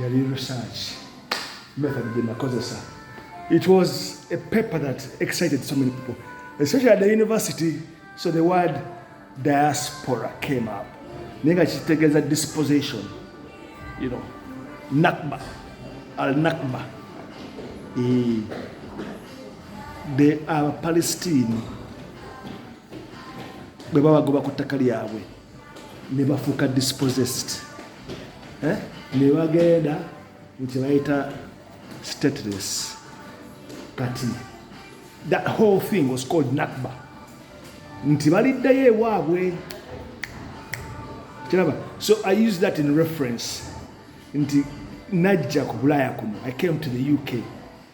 yali research method gye nakozesa it was a paper that excited so many people especially at the university so the word diaspora came up naye nga kitegeeza disposition you know nakba al nakba eh, the abapalestine bwe babagoba ku ttaka lyabwe ne bafuuka dispossessed eh? ne bagenda mu kye bayita stateless kati that whole thing was called nakba nti baliddayo ewaabwe kiraba so i use that in reference nti najja ku bulaaya kuno i came to the uk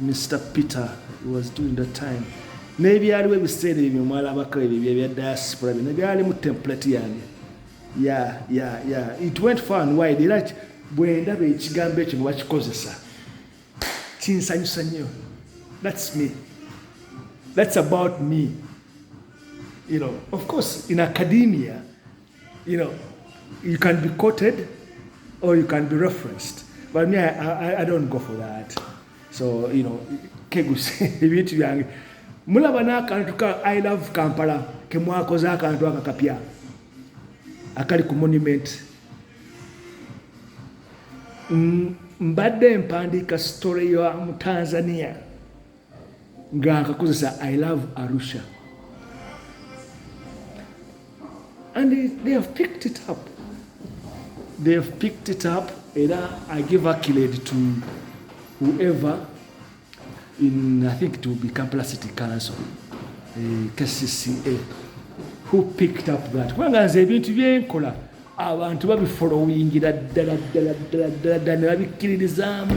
Mister Peter he was doing that time n'ebyaliwo ebiseera ebyo mwalabako ebyo bye bya diaspora byonna byali mu template yange ya ya ya it went far and wide era bwe ndaba ekigambo ekyo mubakikozesa kinsanyusa nnyo that's me that's about me you know of course in academia You know, you can be quoted or you can be referenced. But me, I, I, I don't go for that. So, you know, kegusi, ebintu byange. Mulaba n'akantu ka I love Kampala ke mwakoze akantu aka kapya akali ku monument. Mbadde mpandiika story ya mu Tanzania. nga nkakozesa i love arusha and they, they have picked it up they have picked it up era i give accolade to whoever in i think it will be kampala city council eh, kcca who picked up that kubanga nze ebintu byenkola abantu babifolowingira ddala ddala ddala ddala ddala ne babikkiririzaamu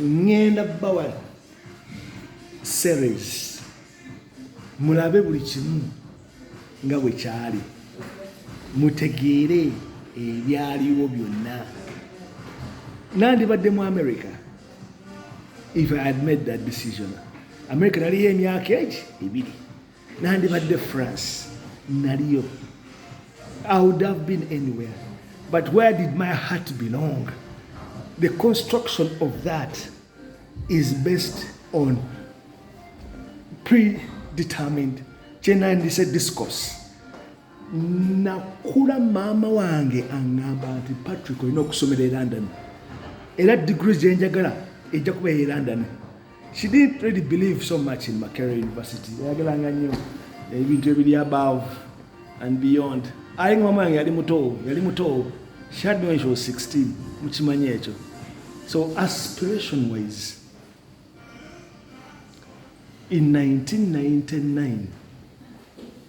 ŋŋenda bawa series mulabe buli kimu nga bwe kyali mutegeere ebyaliwo byonna nandibadde mu america if i had made that decision america naliyo emyaka egi ebiri nandibadde france naliyo i would have been anywhere but where did my heart belong the construction of that is based on predetermined kyenandise discourse nakula maama wange aŋŋamba nti patrick olina okusomera e london era digiri gyenjagala ejja kuba eye london She didn't really believe so much in Makerere University. Yayagalanga nnyo ebintu ebiri above and beyond. Ayi mama yange yali muto, yali muto. She had me when she was 16. Mukimanya ekyo. So aspiration wise in 1999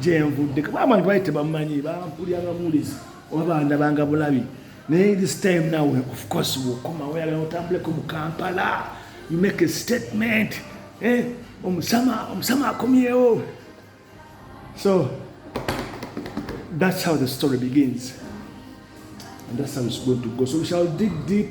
gyenvudde kuba abantu bali tebamanyi bampuliranga muwulizi oba bandabanga bulabi naye this time now of course wokoma oyagala otambuleko mu kampala you make a statement eh, omusama omusama akomyewo so that's how the story begins and that's how it's going to go so we shall dig deep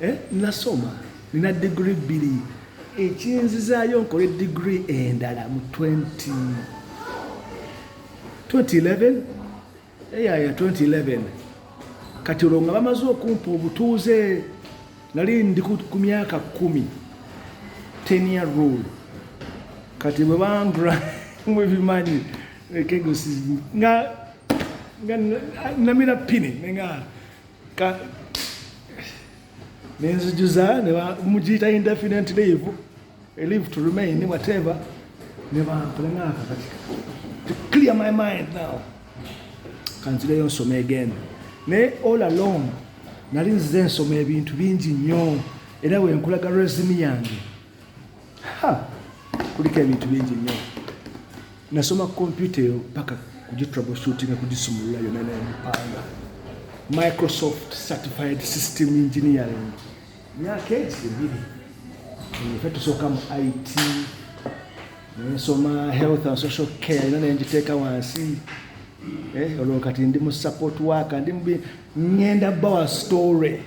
eh, nasoma nina digiri bbiri ekinzizaayo nkole digiri endala mu 2011 eyaya 2011 kati olwo nga bamaze okumpa obutuuze nali ndi ku myaka kumi tenia rule kati bwe bangra mwebimanyi ekegosi nga namira pini nenga nenzijuza mugiyita indefinite leave leave to remain whatever nebampulengaka kati to clear my mind now kanzireyo nsoma again naye all along nali nzize nsoma ebintu bingi nnyo era wenkulaga resimi yange kuliko ebintu bingi nnyo nasoma kompyuta eyo paka kugitroubleshootinga kugisumulula yona nempanga microsoft certified system engineering myaka egi ebiri fe tusooka mu it nensoma health and social care yona nengiteeka wansi eh, olwo kati ndi mu support work ndi ngenda bawa story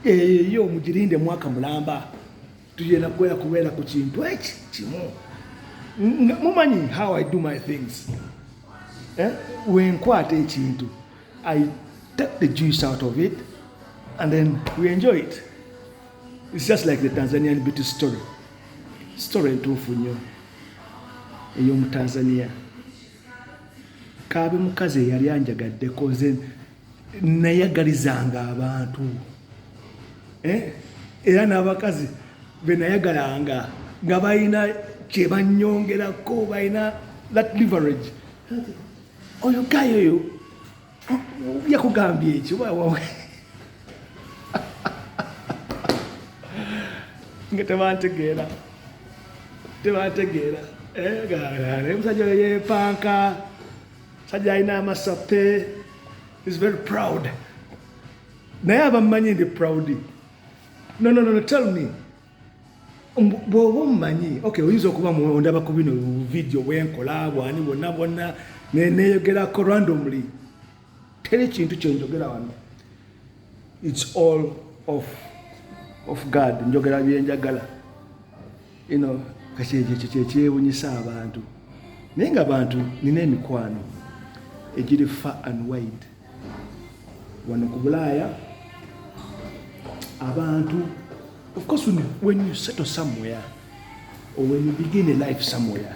eyo eh, mugirinde mwaka mulamba tugenda kubeera kubeera ku kintu eki kimu mumanyi how i do my things eh? wenkwata ekintu i take the juice out of it and then we enjoy it it's just like the tanzanian beauty story story entuufu nnyo ey'omutanzania kaabe mukazi eyali anjagaddeko nze nayagalizanga abantu eh? era n'abakazi benayagalanga nga balina kyebanyongerako balina that leverage oyo gayo oyo yakugambye ekyo nga tebantegeera tebantegeera eh, musajja oyo yepanka sajja alina amasape is very proud naye abammanyi ndi proud no, no, no, tell me bwoba omumanyi okay oyinza okuba ondaba ku bino video bwenkola bwani bwonna bwonna neyogerako randomly teri kintu kyenjogera wano its all of, of god njogera byenjagala ino kakyekyo kyekyewunyisa abantu naye nga bantu nina emikwano egiri fa and wide wano ku bulaaya abantu of course when you, when you settle somewhere or when you begin a life somewhere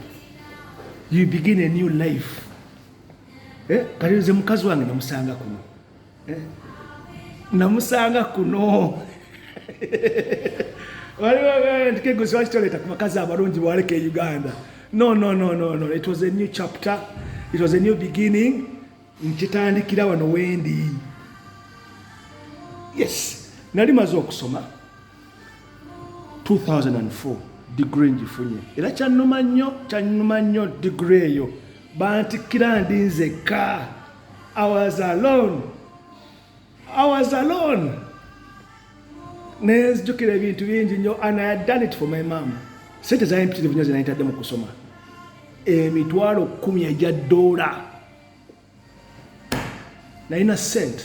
you begin a new life eh? kati nze mukazi wange namusanga kuno namusanga kuno waliwokegusi wakitoleta ku bakazi abalungi bwaleka e uganda no no no no no it was a new chapter it was a new beginning nkitandikira wano wendi yes nali maze okusoma 2004 digre ngifunye era kyanuma nnyo kyanuma nnyo digre eyo bantikira ndi nzekka I was alone. I was alone. Nenzijukira ebintu bingi nnyo and I had done it for my mom. Sente za mpitirivu nnyo zinayitadde mu kusoma. Emitwalo kumi egya doola. Nalina sente.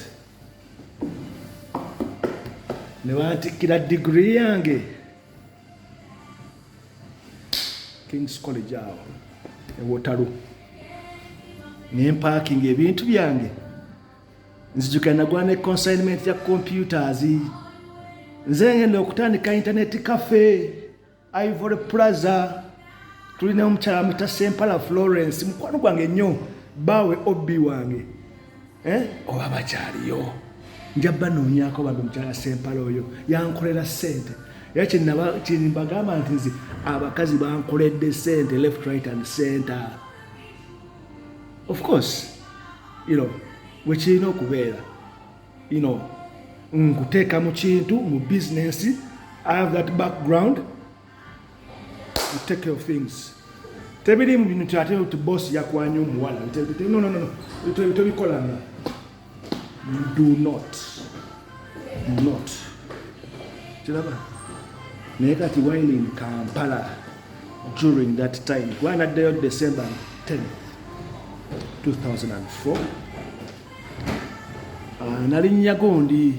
Ne bantikkira digiri yange. Kings College awo ewotalo ne mpakinga ebintu byange nzijukira nagula ne consignment ya computers nze ngenda okutandika internet cafe ivory plaza tulina omukyala muta sempala florence mukwano gwange nnyo baawe obi wange eh? oba bakyaliyo nja banoonyako bambi mukyala sempala oyo yankolera sente era kyenabagamba nti nze abakazi bankoledde sente left right and center of course you know wekirina okubeera you know nkuteeka mu kintu mu bizinensi i have that background take care of things tebiri mu bintu ate nti boss yakwanya omuwala no no no tebikolanga do not do not kiraba naye kati wine in kampala during that time kuba naddayo december 10 2004 ah, nalinnya gundi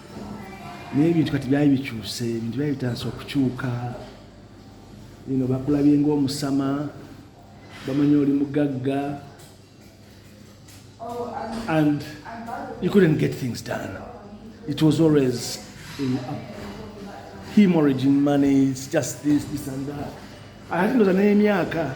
naye ebintu kati byali bikyuse ebintu byali bitandise okukyuka ino bakulabye ngaomusama bamanya oli mugagga and you couldn't get things done it was always in hemorrhaging money it's just this this and that ate ndoza n'emyaka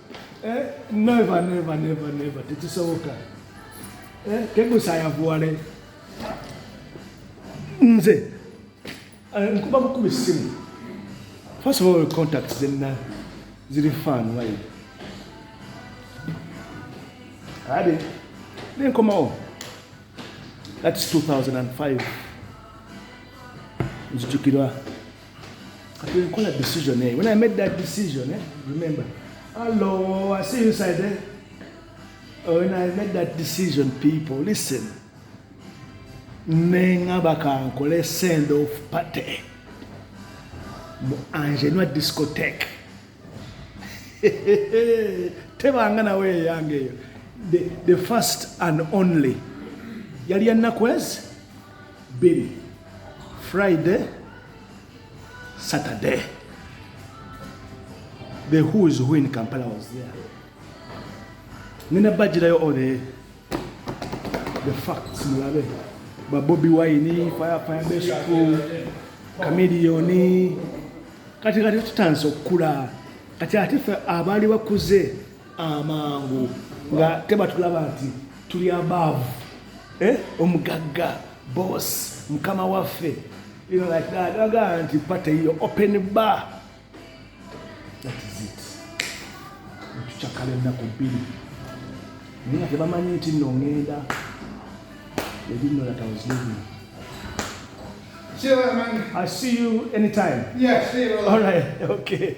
Eh, never, never, never, never. Tekisoboka. Eh, kegusa yavuwale. Nze. Eh, nkuba bukuba essimu. First of all, contacts zenna ziri fan wayi. Ade. Nenkomawo. That's 2005. Nzijukirwa. Kati nkola decision eyo. When I made that decision, eh, remember, hello, I see you inside there. Eh? Oh, when I made that decision, people, listen. Nengaba kankole send off party. Mu Angenua discotheque. Tebanga na wewe yange. The, the first and only. Yali anakwezi? bbiri friday saturday the who is who in kampala was there nina bajirayo all the, the facts mulabe babobi wine firefire besukulu kamiliyoni kati kati tutandise okukula kati ate fe abaali bakuze amangu nga tebatulaba nti tuli abaavu eh? omugagga boss mukama waffe aga nti pate yo open bar tucakala ennaku bbiri naye nga tebamanyi nti nno ngenda ebinnolatawuzibuli See you later, man. I see you anytime. Yeah, see you later. All right, okay.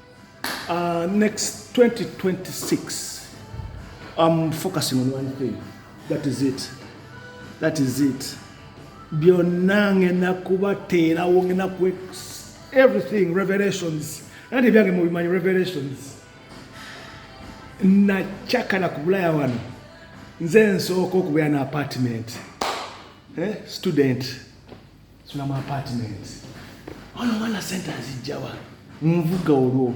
Uh, next 2026, I'm focusing on one thing. That is it. That is it. byonna ngenda kubateerawo ngenda ku everything revelations era tebyange mubimanyi revelations nakyakala ku bulaya wano nze nsooka okubeera na apartment eh? student funa mu apartment ono omwana sente azijjawa nvuga olwo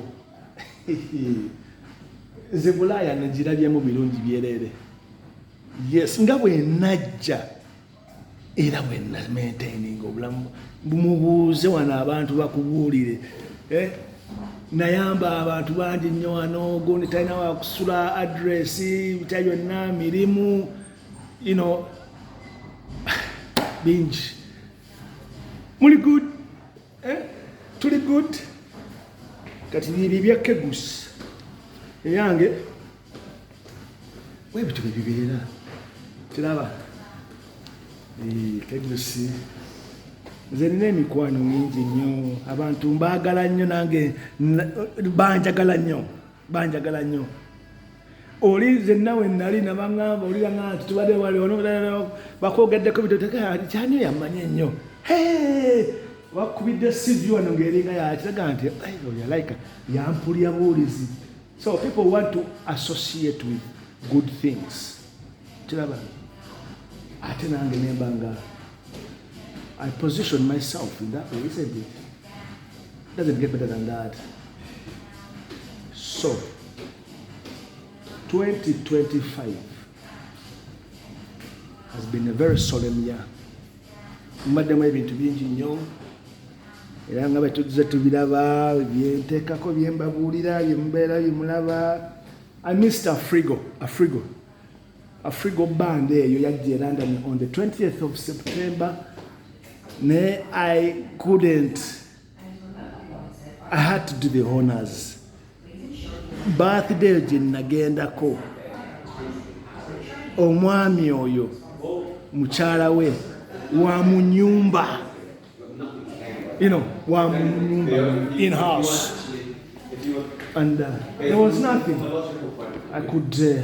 nze bulaaya negirabyemu birungi byereere yes nga bwenajja era bwenamaintaininga obulamu mubuuze wano abantu bakubuulire eh? nayamba abantu bangi nnyo wano gundi talina wakusula adresi bitya byonna mirimu you know bingi muli good eh? tuli good kati bibyo bya kegus eyange webityo byebibeera kiraba kegusi nze nina emikwano mingi nnyo abantu mbaagala nnyo nange banjagala nnyo banjagala nnyo oli nze nawe nali nabaŋamba olira ŋa nti tubadde wali ono bakwogeddeko bitotekyani yamanya ennyo wakubidde sivi wano ngaeringa yakiraga nti yalayika yampulya buwulizi so people want to associate with good things kiraba ate nange nemba nga I position myself in that way, isn't it? Doesn't get better than that. So, 2025 has been a very solemn year. Madam, I've been to be engineer. era nga bwe tuzze tubiraba byenteekako bye mbabuulira bye mubeera bye mulaba i mr afrigo afrigo Afrigo band eyo yajja e London on the 20th of September naye I couldn't I had to do the honors birthday gye nagendako omwami oyo mukyala we wa mu nyumba you know wa mu nyumba in house and uh, there was nothing I could uh,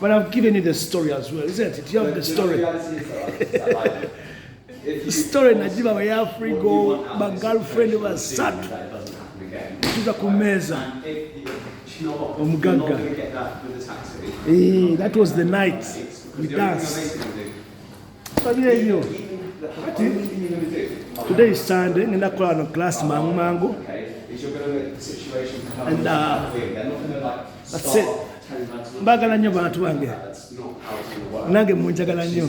But I've given you the story as well, isn't it? You have the story. The story najiba wa yafrigo ba girlfriend basatu tuza ku meza omugagga eh, that was the night we danced Today is Sunday, ngenda kukola no class mangu mangu. And uh, that's it. Mbagala nnyo bantu bange. Nange munjagala nnyo.